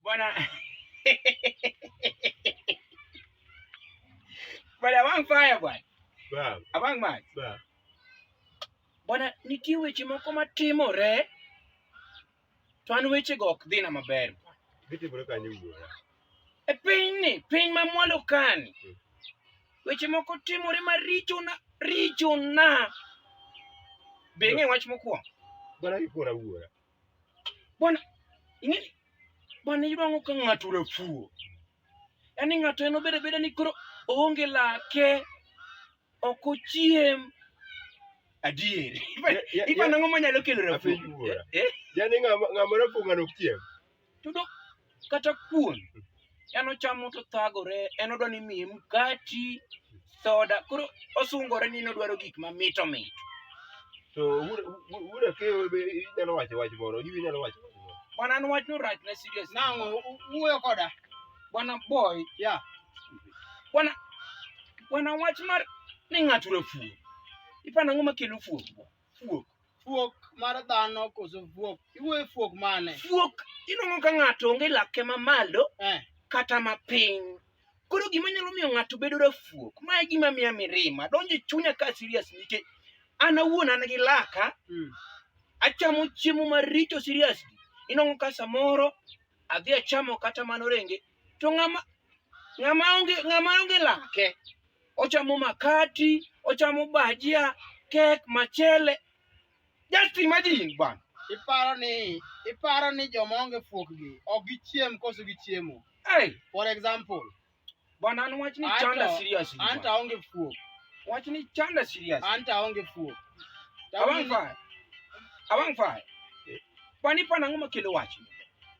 Bwana bwana wang fire bwana abang mach bwana, nitie weche moko matimore to an wechego ok dhina maber e pinyni, piny ma mwalo kani hmm. weche moko timore marichona richona. Be ng'e wach mokwongo? Bwana, ing'e bwana iyudo ang'o ka ng'ato rafuo? Yaani ng'ato en obeda beda ni koro oonge lake, ok ochiem. Adier. Ipa- Ya- ya- Ipano ang'o manyalo kelo rafuo? Apenj wuora. Eh? Yaani ng'ama ng'ama rafuo ng'ano ok chiem. Tudo kata kuon en ochamo to thagore en odwa ni miye mkati soda koro osungore ni nodwaro gik mamito mito to wuda ke inyalo wacho wach moro ibi inyalo wacho bwana an wach no rach na serious nango wuoyo koda bwana boy ya bwana bwana wach mar ni ng'ato rafuo ipana ng'o makelo fuo fuok fuok mar dhano koso fuok iwuoye fuok mane fuok inongo ka ng'ato onge lake mamalo eh. kata mapiny koro gima nyalo miyo ng'ato bedo rafuok ma e gima miya mirima donjo e chunya ka serious nike an awuon an gi laka mm. achamo chiemo maricho serious inongo ka samoro adhi achamo kata mano renge to ng'ama ng'ama onge ng'ama onge lake ochamo makati, ochamo bajia, kek, machele. Just imagine bwana. Iparo ni iparo ni joma onge fuokgi ok gichiem koso gichiemo. Hey. For example. Bwana an wach ni chanda seriously. Anta onge fuok. Wach ni chanda serious. Anta onge fuok. Awang' fa. Awang' fa. Pani pana ng'oma kelo wach.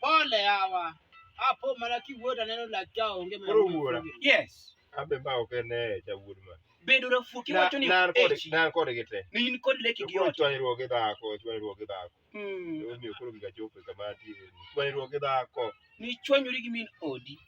Pole yawa. Apo mana kiwuoda neno lak cha onge mana. Koro wuora. Yes. Abe ba ok ne cha wuod ma. Bedo rafu kiwacho ni nan kod nan kod gite. Ni in kod leki gi ot. Chwanyruok gi dhako, chwanyruok gi dhako. Mm. Omiyo koro giga chopo kama ti. Chwanyruok gi dhako. Ni chwanyori gi min odi.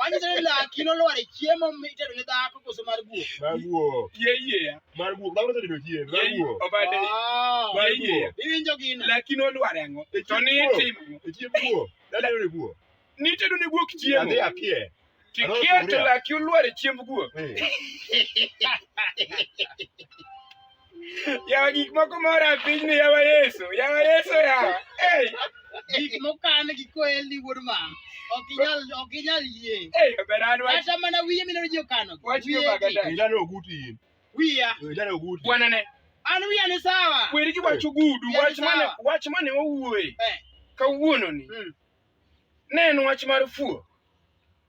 Manyiso ni laki nolwar e chiemo mitedo ne dhako koso mar guok. Mar guok. Yie yie ya. Mar guok. Dhako osetedo chiemo. Mar guok. Obade. Mar guok. Iwinjo gino. Laki nolwar ang'o? E to ni itimo. E chiemo guok. Dada yore guok. Nitedo ne guok chiemo. Adhi apie. Kikia to laki olwar e chiemb guok. Eh. Yawa gik moko mora e piny ni yawa Yesu. Yawa Yesu yawa. Hey. Gik mokan gi koel ni wuod ma. Ok inyal ok inyal yie. Hey, oberan wach. Kata mana wiye mineno ji okano. Wach yo bagada. Ilano oguti in. Wiya. Ilano oguti. Bwana ne. An wiya ni sawa. Kweri ki wach ogudu. Wach mane wach mane owuoye. Eh. Kawuono ni. Hmm. Ne en wach mar fuo.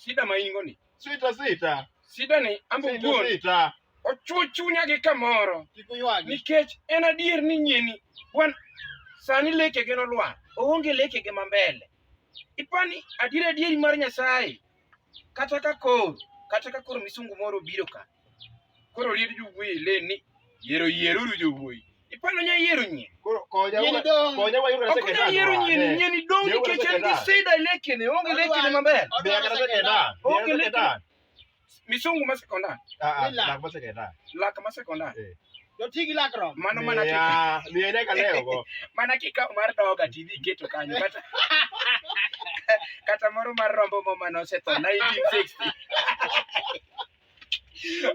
Shida ma ingo ni. Sita sita. Shida ni ambo wuon. Sita. Ochuo chunya gi kamoro. Nikech en adier ni nyieni wan sani leke gi nolwar. Oonge leke gi mambele. Ipani adier adieri mar Nyasaye kata ka koro kata ka koro misungu moro obiro ka Koro liet jowuoyi leni yiero yieruru jowuoyi. Ipano nya yiero nyie. Koro konya Nyeni dong. konya wayudo Ok nya sekretar. yiero nyie ni nyie ni dong Yewuoyi nikech en gi sekretar. sida lekene onge lekene maber. Biya kata sekretar. Biya Onge kata lek- sekretar. Misungu ma sekondar, Ah, ah, Ila. lak ma sekretar. lak ma sekondar. Doti gi lakrom. Mano mana kika, Miya, miya nyaka leo go. mana kika mar doga tidhi iketo kanyo kata kata moro mar rombo mama nosetho 1960.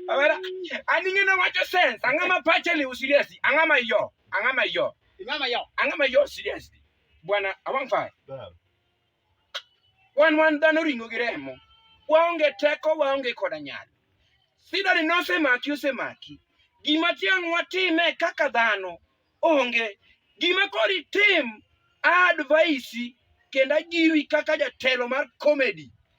Abera, aninge na wacho sense, anga ma pache ni userious, anga ma yo, anga ma yo. Ingama yo. Anga ma yo serious. Bwana awang fa. Wan wan dhano ringo gi remo. Waonge teko, waonge koda nyalo. Sida ni nosemaki osemaki. Gima tiang' watime kaka dhano onge. Gima kori tim advice kendo ajiwi kaka jatelo mar comedy.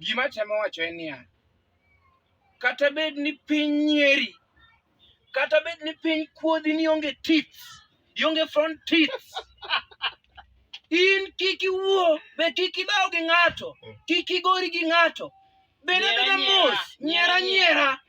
Gima temo wacho en niya, kata bed ni piny nyeri, kata bed ni piny kuodhi ni onge tits, ionge front tits, in kik iwuo, be kik idhaw gi ng'ato, kik igori gi ng'ato. Bed abeda mos, nyiera nyiera.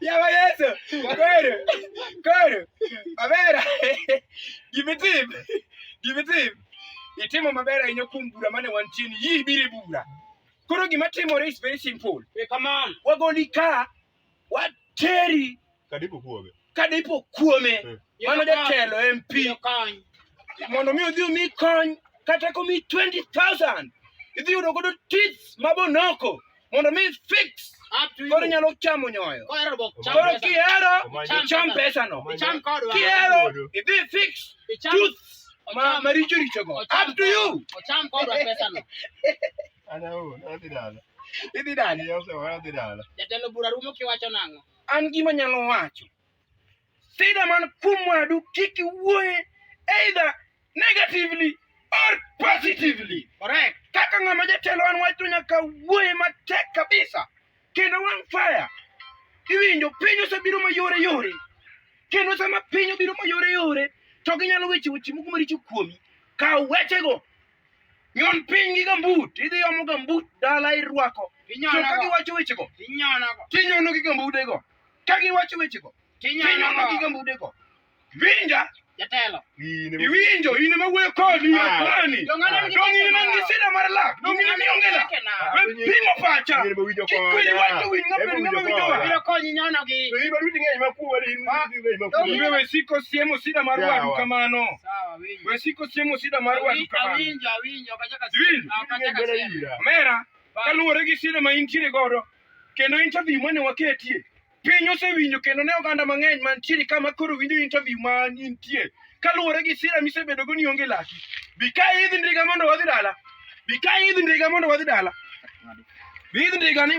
Yaba Yesu, kweli, kweli. Mabera. Give it him. Give it him. Itimo mabera yenye kumbura mane wantini. Hii biri bura. Koro gima timore is very simple. Hey, come on. Wagoli ka wateri Kadipo kuome. Kadipo kuome. Eh. Mano jatelo MP. Mondo mi odhi omi kony kata komi 20,000 idhi yudo godo tits mabonoko mondo mi fix koro nyalo chamo nyoyo koro kihero cham pesano kihero idhi fix tooth maricho richogo up to you idhi dala jatelo bura rumo kiwacho nang'o an gima nyalo wacho sida man kuom wadu kik iwuoye either negatively or positively correct kaka ng'ama jatelo an wacho nyaka wuoye matek kabisa kendo wang' fire iwinjo piny osebiro mayore yore kendo sama piny obiro mayore yore to ginyalo weche weche moko maricho kuomi kaw wechego Nyon piny gi gambut, idhi omo gambut dala irwako. To ka giwacho wechego, tinyono gi gambudego. Ka giwacho wechego, tinyono gi gambudego. Winja, jatelo iwinjo in ema wuoyo kodi akwani dong in man gi sida mar lak dong in mionge lak pimo pacha kikwiri wacho winy ng'ato ng'ama winjo wa biro konyi nyono gi to in baruti ng'eny ma kuwa in ah, dong iwe siko siemo sida mar wadu kamano We siko siemo sida mar wadu kamano. Awinjo, awinjo, kachaka siemo. Kachaka siemo. Mera, kaluwore gi sida ma intiere godo, kendo interview mane waketie, piny osewinjo kendo ne oganda mang'eny mantiere kama koro winjo interview ma intie. Kaluwore gi sida misebedo go ni onge laki. Bi ka idhi ndiga mondo wadhi dala. Bi ka idhi ndiga mondo wadhi dala. Bi idhi ndiga ni